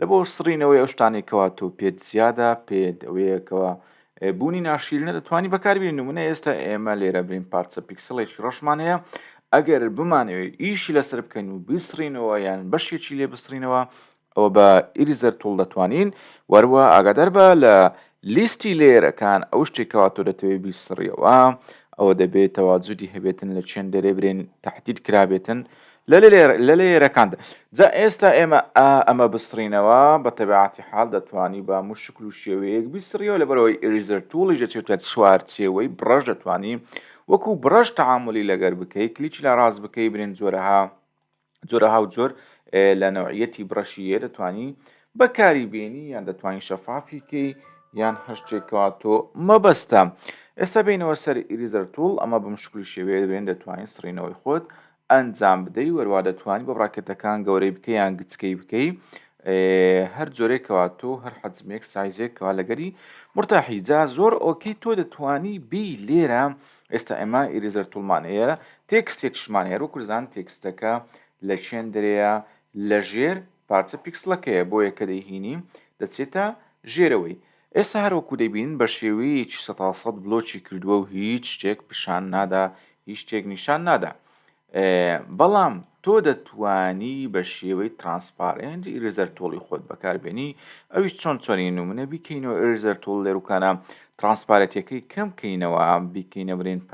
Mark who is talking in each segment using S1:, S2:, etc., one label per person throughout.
S1: لە بۆ سڕینەوەی ئەو شتانەی کەوا تۆ پێت زیادە پێت ئەوەیە کەوا بوونی ناشیرنە دەتوانی بەکاربیێن و منە ئێستا ئێمە لێرە برین پارچە پیکسلێکی ڕەشمان هەیە ئەگەر بمانەوێت ئیشی لەسەر بکەین و بیسڕینەوە یان بەشێکی لێ بسڕینەوە ئەوە بە ئیریزەر توڵ دەتوانین وەروە ئاگادار بە لە لیستی لەیەرەکان ئەو شتێک کەوا تۆ دەتەوێت بیسڕیەوە ئەوە دەبێت تەواجودی هەبێتن لە چێن دەرێ برێن تهدید کرابێتن لە لە لەیەرەکاندا جا ئێستا ئێمە ئەمە بسڕینەوە بە تەبعاتی حال دەتوانی بە مو شکل و شێوەیەک بیسڕیەوە لە بەرەوەی ئریزەر توڵی دەچێتە چوارچێوەی بڕەش دەتوانی وەکو بڕەش تعاملی لەگەر بکەی کلیچ لە ڕاست بکەی برێن جۆرەها جۆرە هاو جۆر لە نەوعیەتی بڕەشی هەیە دەتوانی بەکاری بێنی یان دەتوانین شەفافی کەی یان هەشتێکەوە تۆ مەبەستە ئێستا بینەوە سەر ئیریزەر توڵ ئەمە بە مشکلی شێوەیە بێن دەتوانین سڕینەوەی خۆت ئەنجام بدەی وەروا دەتوانانی بە ڕاکێتەکان گەورەی بکە یان گچکەی بکەی هەر جۆرێکەوە تۆ هەر حەجمێک سایزێکەوە لەگەری مرتاحی جا زۆر ئۆکی تۆ دەتوانی بی لێرە ئێستا ئێمە ئیریزەر توڵمان هەیە تێکستێکشمان هەیە وەکو زان تێکستەکە لە چێندرەیە لە ژێر پارچە پیکسلەکەیە بۆیە کە دەیهینی دەچێتە ژێرەوەی ئێستا هەروەکو دەبین بە شێوەیەکی سەسەد بلۆکی کردووە و هیچ شتێک پیشان نادا هیچ شتێک نیشان نادا بەڵام تۆ دەتوانی بە شێوەی ترانسپارنت ئیرزەر تۆڵی خۆت بەکاربێنی ئەویش چۆن چۆنی نمونە بیکەینەوە ئێرزەر تۆڵ لێروکانە ترانسپارەتەکەی کەم کەینەوە بیکەینە برێن پ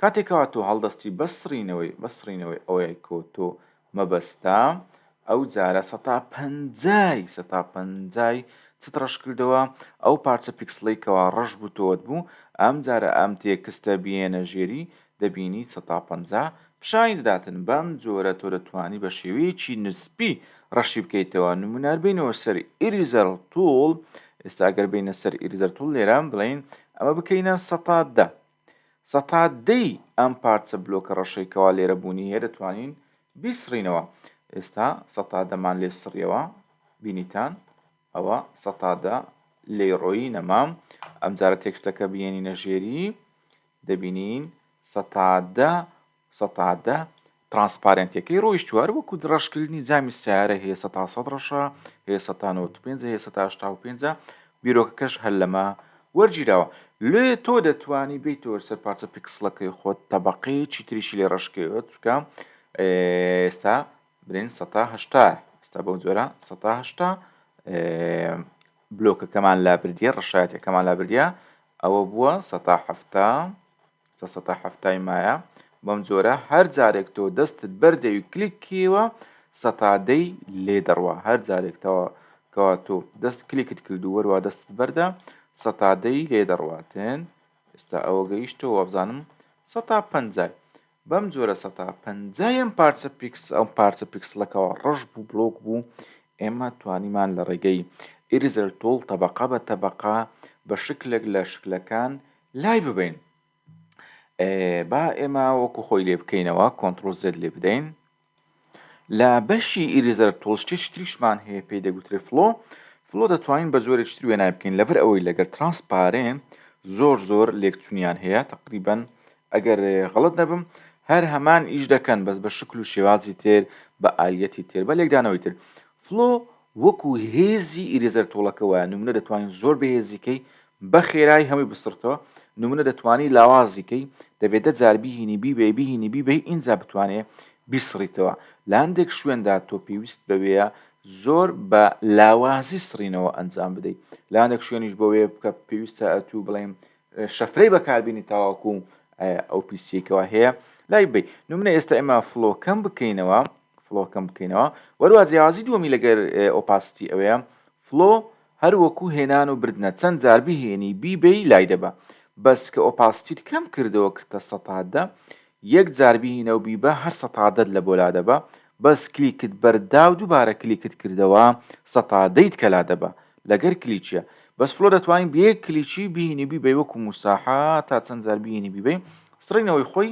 S1: کاتێکەوە تۆ هەڵدەستی بەسڕینەوەی بەسڕینەوەی ئەوەیە کۆ تۆ مەبەستە ئەو جارە سەتا پەنجای سەتا پەنجای چت ڕەش کردەوە ئەو پارچە پیکسڵەی کەوا ڕەش بوو تۆت بوو ئەم جارە ئەم تێکستە بیێنە ژێری دەبینی سەتا پەنجا پیشانی دەداتن بەم جۆرە تۆ دەتوانی بە شێوەیەکی نسبی ڕەشی بکەیتەوە نمونار بینەوە سەر ئیریزەر توڵ ئێستا گەر بینە سەر ئیریزەر توڵ لێرە بڵین ئەمە بکەینە سەتا دە سەتا دەی ئەم پارچە بلۆکە ڕەشەی کەوا لێرە بوونی هەیە دەتوانین بیسڕینەوە ئێستا سەتا دەمان لێ سڕیەوە بینیتان ئەوە سەتا دە لێی ڕۆیی نەمام ئەمجارە تێکستەکە بینی نەژێری دەبینین سەتا دە سەتا دە ترانسپارێنتەکەی ڕۆیشتوە هەر وەکو ڕەشکردنی جامی سیارە هەیە سەتا سەد ڕەشە هەیە سەتا نەوەد و پێنجە هەیە سەتا هەشتا و پێنجە بیرۆکەکەش هەر لەمە وەرگیراوە لێ تۆ دەتوانی بیتەوە سەر پارچە پیکسلەکەی خۆت تەبەقەیەکی تریشی لێ ڕەشکەوێت چکە ئێستا برێن سەتا هەشتا ئێستا بەو جۆرە سەتا هەشتا بلۆکەکەمان لابردیە ڕەشایەتەکەمان لابردە ئەوە بووە سەتا هەفتا سە سەتا حەفتای مایە بەم جۆرە هەر جارێک تۆ دەستت بەردەوی کلیک کیوە سەتا دەی لێ دەڕوا هەر جارێک تەوا کەوا تۆ دەست کلیکت کرد و وەروا دەستت بەردە سەتا دەی لێ دەڕواتن ئێستا ئەوە گەیشتەوە وابزانم سەتا پەنجای بەم جۆرە سەتا پەنجایم پارچە پیکس ئەو پارچە پیکسلەکەەوە ڕەش بوو بلۆک بوو ئێمە توانیمان لە ڕێگەی ئیریزەر تۆڵ تەبقە بە تەبقە بە شکلێک لە شکلەکان لای ببەین با ئێمە وەکو خۆی لێ بکەینەوە کۆنتترۆل زێت لێ بدەین لە بەشی ئیریزەر تۆڵشتی شتریشمان هەیە پێی دەگوترێ فلۆ فلۆ دەتوانین بە زۆرێک شتری وێنای بکەین لەبەر ئەوەی لەگەر ترانسپارێن زۆر زۆر لێکچونیان هەیە تقریبن ئەگەر غڵت نەبم هەر هەمان ئیش دەکەن بەس بە شکل و شێوازی تر بە ئالیەتی تر بە لێکدانەوەی تر فلۆ وەکو هێزی ئیرێزەر تۆڵەکە وایە نمونە دەتوانی زۆر بەهێزی کەی بە خێرای هەمووی بسڕتەوە نمونە دەتوانی لاوازی کەی دەبێ دە جار بیهینی بیبەی بیهینی بیبەی ئینجا بتوانێ بیسڕیتەوە لە هەندێک شوێندا تۆ پێویست بەوەیە زۆر بە لاوازی سڕینەوە ئەنجام بدەی لە هەندێک شوێنیش بۆوێ بکە پێویستە ئەتوو بڵێم شەفرەی بەکاربینی تاواکو ئەو پیسیەکەوە هەیە لای بی نمونە ئێستا ئێمە فلۆکەم بکەینەوە فلۆ کەم بکەینەوە وەروا جیاوازی دووەمی لەگەر ئۆپاستی ئەوەیە فلۆ هەر وەکو هێنان و بردنە چەند جار بهێنی بیبەی لای دەبە بەس کە ئۆپاستیت کەم کردەوە کردتە سەتادە یەک جار بهینە و بیبە هەر سەتادەت لە بۆ لا دەبە بەس کلیکت بەردا و دووبارە کلیکت کردەوە سەتادەیت کە لا دەبە لەگەر کلیچیە بەس فلۆ دەتوانین بە یەک کلیچی بهینی بیبەی وەکو موساحە تا چەند جار بهینی بیبەی سڕینەوەی خۆی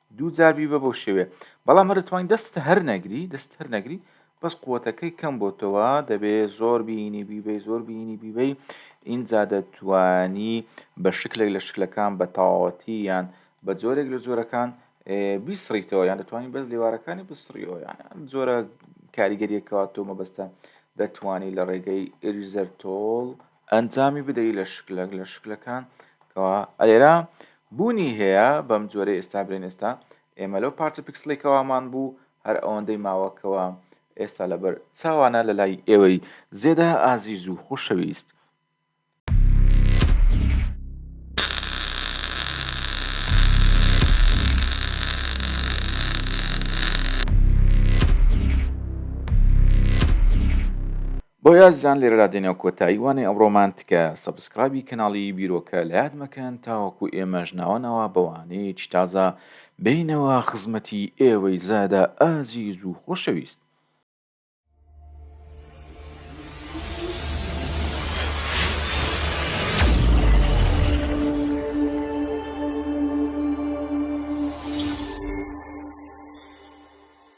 S1: دوو جار بیبە بۆ شێوێ بەڵام هەر دەتوانی دەستت هەر نەگری دەست هەر نەگری بەس قوەتەکەی کەم بۆتەوە دەبێ زۆر بینی بیبەی زۆر بینی بیبەی ئینجا دەتوانی بە شکلێک لە شکلەکان بە تەواوەتی یان بە جۆرێک لە جۆرەکان بیسڕیتەوە یان دەتوانین بەس لێوارەکانی بسڕیەوە یان جۆرە کاریگەریەکەوە تۆ مەبەستە دەتوانی لە ڕێگەی ئریزەر تۆڵ ئەنجامی بدەی لە شکلەک لە شکلەکان کەوا ئەلێرا بوونی هەیە بەم جۆرەی ئێستا بلێن ئێستا ئێمە لەو پارچە پیکسڵی کەوامان بوو هەر ئەوەندەی ماوە کەوا ئێستا لەبەر چاوانە لە لای ئێوەی زێدا ئازیز و خوشەویست بۆ یازیان لێرەدا دێنە کۆتایی وانەی ئەمڕۆمان تکایە سەبسکرایبی کەناڵی بیرۆکە لەیاد مەکەن تاوەکو ئێمەش ناوە ناوە بە وانەیەکی تازە بێینەوە خزمەتی ئێوەی زادە ئازیز و خۆشەویست.